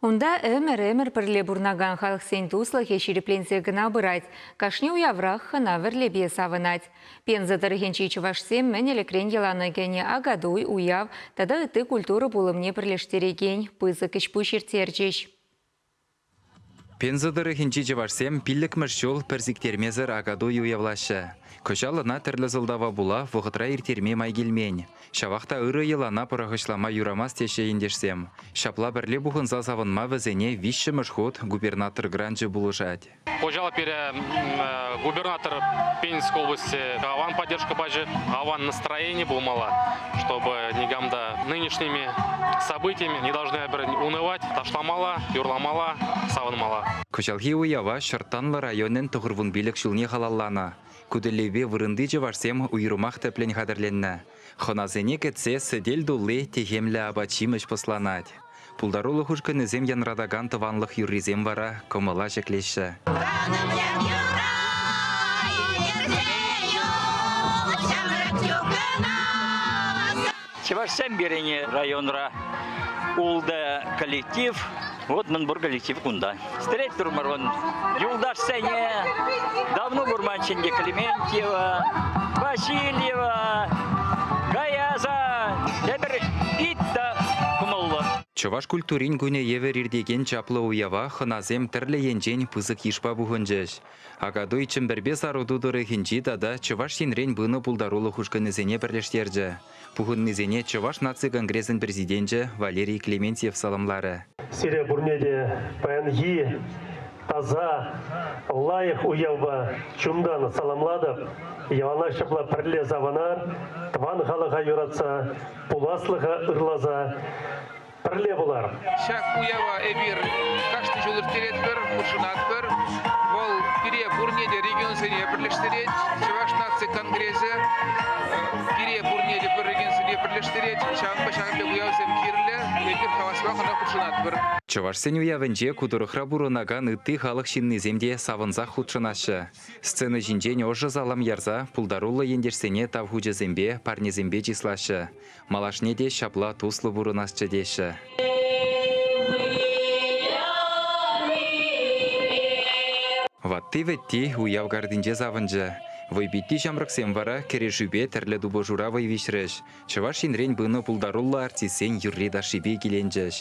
Унта ӗмӗр-ӗмӗр пӗрле пурӑнакан халӑхсен туслӑхӗ ҫирӗпленсе кӑна пырать, кашни уяврах хӑна-вӗрлепе савӑнать. Пенза тӑрӑхӗнчи чӑвашсем мӗн ӗлӗкрен йӑлана кӗнӗ Акатуй, уяв тата ытти культура пулӑмне пӗрлештерекен пысӑк ӗҫ-пуҫ ирттерчӗҫ. Пенза тӑрӑхӗнчи чӑвашсем пиллӗкмӗш ҫул пӗр сиктермесӗр Акатуй уявлаҫҫӗ. Кӑҫал ӑна тӗрлӗ сӑлтава пула вӑхӑтра ирттерме май килмен. Ҫавах та ырӑ йӑлана пӑрахӑҫлама юрамасть теҫҫӗ ентешсем. Ҫапла пӗрле пухӑнса савӑнма вӗсене виҫҫӗмӗш хут губернатор гранчӗ пулӑшать. Хуҫалӑх пире губернатор Пензенской области аван поддержка пачӗ, аван настроени пулмалла, чтобы никам та нынешними событиями не должны пӗр унывать, ташламалла, юрламалла, савӑнмалла. Кӑҫалхи уява Ҫӑрттанлӑ районӗн тӑхӑрвун пилӗк ҫулне халалланӑ. Ку тӗллевпе вырӑнти чӑвашсем уйрӑмах тӗплӗн хатӗрленнӗ. Хӑнасене кӗтсе сӗтел тулли техемлӗ апат-ҫимӗҫ пӑсланать. Пултарулӑх ушкӑнӗсем янратакан тӑванлӑх юррисем вара кӑмӑла ҫӗклеҫҫӗ. Чӑвашсем пирӗн районра ултӑ коллектив. Вот мӗн пур коллектив кунта. Стрейтурмӑр вон юлташсене давно курманччен те Клементьева, Васильева, Гаяза, тепӗр пит та кӑмӑллӑ. Чӑваш культурин кунӗ евӗр иртекен чаплӑ уява хӑнасем тӗрлӗ енчен пысӑк йышпа пухӑнчӗҫ. Акатуй Чӗмпӗрпе Саруту тӑрӑхӗнчи тата Чӑваш Енрен пынӑ пултарулӑх ушкӑнӗсене пӗрлештерчӗ. Пухӑннисене Чӑваш наци конгресӗн президенчӗ Валерий Клементьев саламларӗ. Сире пурне те паянхи таса, лайӑх уявпа чунтан саламлатӑп. Яланах ҫапла пӗрле савӑнар, тӑван халӑха юратса, пуласлӑха ырласа Пӗрле пулар. Ҫак уява эпир кашни ҫул ирттеретпӗр, хутшӑнатпӑр. Вӑл пире пурне те регионсене пӗрлештерет. Чӑваш наци конгресӗ пире пурне те пӗр регионсене пӗрлештерет. Ҫавӑнпа ҫакӑн пек уявсем кирлӗ. Эпир хаваспах ӑна хутшӑнатпӑр. Чӑвашсен уявӗнче ку тӑрӑхра пурӑнакан ытти халӑх ҫыннисем те савӑнсах хутшӑнаҫҫӗ. Сцена ҫинчен ӑшӑ салам ярса пултаруллӑ ентешсене тав хучӗсемпе, парнесемпе чыслаҫҫӗ. Малашне те ҫапла туслӑ пурӑнасчӗ теҫҫӗ. Ватти-вӗтти уяв картинче савӑнчӗ. Вӑйпитти ҫамрӑксем вара кӗрешӳпе тӗрлӗ тупӑшура вӑй виҫрӗҫ. Чӑваш Енрен пынӑ пултаруллӑ артистсен юрри-ташшипе киленчӗҫ.